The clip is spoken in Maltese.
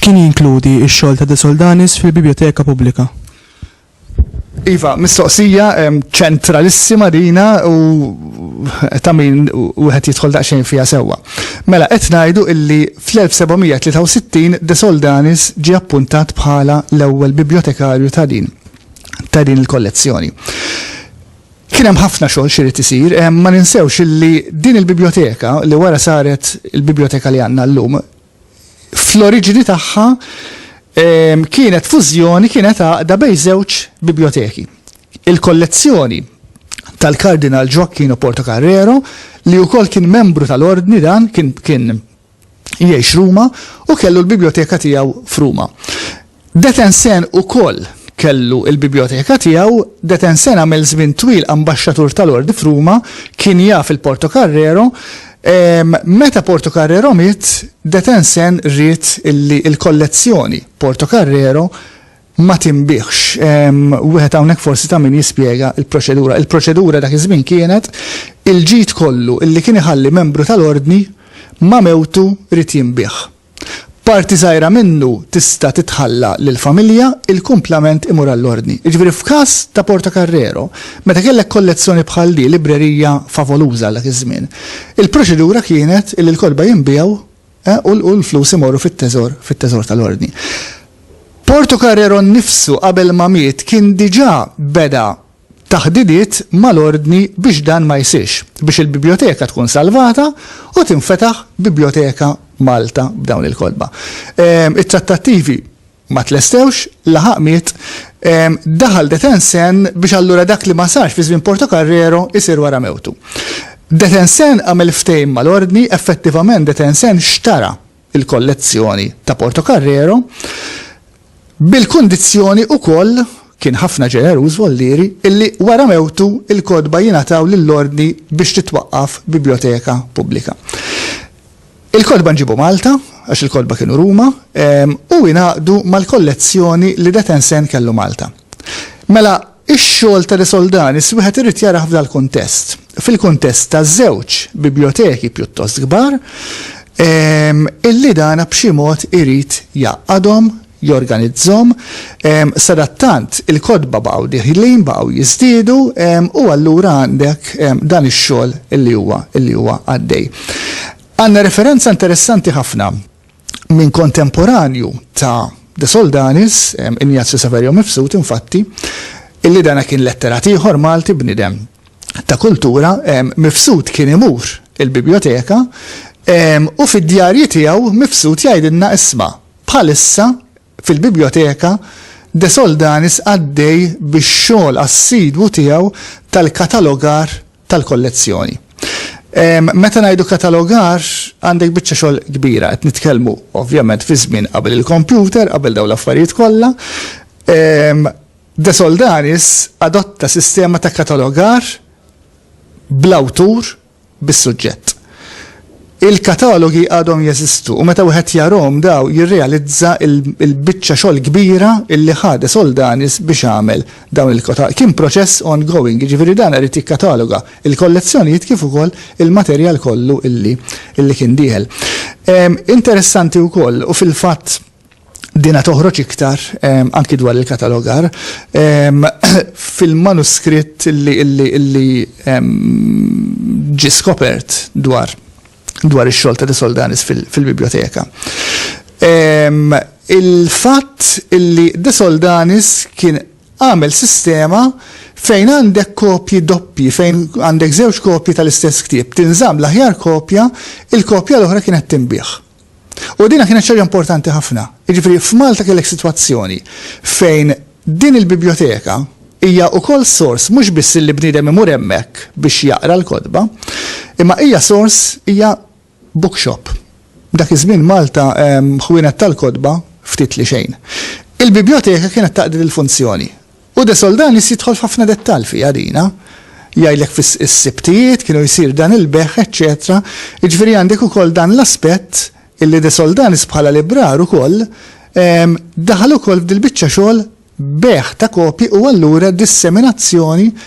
X'kien jinkludi x-xogħol ta' De Soldanis fil-Bibjoteka Pubblika? Iva, mistoqsija ċentralissima dina u ta' min wieħed jidħol daqsxejn fiha sewwa. Mela qed ngħidu illi fl-1763 De Soldanis ġie appuntat bħala l-ewwel bibljotekarju ta' din ta' din il-kollezzjoni. Kien hemm ħafna xogħol xi rid isir, ma ninsewx illi din il-biblioteka li wara saret il-biblioteka li għandna llum fl-oriġini tagħha kienet fużjoni, kienet għaqda bejn żewġ biblioteki. Il-kollezzjoni tal-Kardinal Gioacchino Porto Carrero, li wkoll kien membru tal-ordni dan kien kien jgħix Ruma u kellu l-biblioteka tiegħu f'Ruma. Detensen ukoll kellu l-bibljoteka tiegħu, Detensen għamel żmien twil ambaxxatur tal-Ordi f'Ruma, kien jaf il-Portocarrero, meta Portocarrero miet, Detensen ried illi l-kollezzjoni Portocarrero ma tinbiegħx. Wieħed hawnhekk forsi ta' min jispjega l-proċedura. Il-proċedura dak iż-żmien kienet il-ġid kollu illi kien iħalli membru tal-Ordni ma' mewtu ried jinbiegħ. Parti żgħira minnu tista' titħalla lill-familja, il-kumplament imur għall-Ordni. Jiġifieri f'każ ta' Portocarrero, meta kellek kollezzjoni bħal di, librerija favoluża għal dak iż-żmien, il-proċedura kienet li l-kotba jinbiegħu u l-flus imorru fit-teżor, fit-teżor tal-Ordni. Portocarrero nnifsu qabel ma miet kien diġà beda taħditiet mal-Ordni biex dan ma jsirx, biex il-Bibljoteka tkun salvata u tinfetaħ Bibljoteka Malta b'dawn il-kotba. It-trattattivi ma tlestewx, laħaq miet, daħal De Tensen biex allura dak li ma sarx fi żmien Portocarrero jsir wara mewtu. De Tensen għamel ftehim mal-Ordni, effettivament De Tensen xtara il-kollezzjoni ta' Portocarrero, bil-kundizzjoni ukoll, kien ħafna ġeneruż Vollieri, illi wara mewtu l-kotba jingħataw lill-Ordni biex titwaqqaf bibljoteka pubblika. Il-kotba nġibu Malta, għax il-kotba kienu Ruma, u jingħaqdu mal-kollezzjoni li Detensen kellu Malta. Mela, ix-xogħol ta' De Soldanis wieħed irid jarah f'dal-kuntest, fil-kuntest ta' żewġ bibljoteki pjuttost kbar, illi dana b'xi mod irid jgħaqqadhom, jorganizzhom, sadattant il-kotba baqgħu dieħlin, baqgħu jiżdiedu, u allura għandek dan ix-xogħol illi huwa, illi huwa għaddej. Għandna referenza interessanti ħafna. Minn kontemporanju ta' De Soldanis, Ignazio Saverio Mifsud, infatti, illi dan kien letterat ieħor Malti, bniedem ta' kultura, Mifsud kien imur il-bibjoteka u fid-djarji tiegħu Mifsud jgħidilna isma' bħalissa fil-Bibljoteka De Soldanis għaddej bix-xogħol assidwu tiegħu tal-katalogar tal-kollezzjoni. Meta ngħidu katalogar, għandek biċċa xogħol kbira, qed nitkellmu ovvjament fi żmien qabel il-kompjuter, qabel dawn l-affarijiet kollha. Ehm, De Soldanis adotta sistema ta' katalogar bl-awtur bis-suġġett. Il-katalogi għadhom jeżistu u meta wieħed jarahom daw jirrealizza l-biċċa xogħol kbira li ħadet Soldanis biex għamel dawn il-katalogi. Kien proċess ongoing, jiġifieri dan irid jikkataloga l-kollezzjonijiet kif ukoll il-materjal kollu li kien dieħel. Interessanti wkoll u fil-fatt Din qed toħroġ iktar anki dwar il-katalogar fil-manuskritt li ġie skopert dwar ix-xogħol ta' De Soldanis fil-bibljoteka. Il-fatt li De Soldanis kien għamel sistema fejn għandek kopji doppji, fejn għandek żewġ kopji tal-istess ktieb, tinżamm l-aħjar kopja, il-kopja l-oħra kienet tinbiegħ. U din kienet xi ħaġa importanti ħafna. Jiġifieri f'Malta kellek sitwazzjoni fejn din il-bibljoteka hija wkoll sors mhux biss li bniedem imur hemmhekk biex jaqra l-kotba, imma hija sors, hija bookshop. Dak iż-żmien Malta ħwienet tal-kotba ftit li xejn. Il-bibljoteka kienet taqdi dil-funzjoni. U De Soldanis jidħol f'ħafna dettall fiha dina. Jgħidlek fis-Sibtijiet kienu jsir dan il-bejgħ eċċetera. Jiġifieri għandek ukoll dan l-aspett illi De Soldanis bħala librar ukoll daħal ukoll f'dil-biċċa xogħol bejgħ ta' kopji u allura disseminazzjoni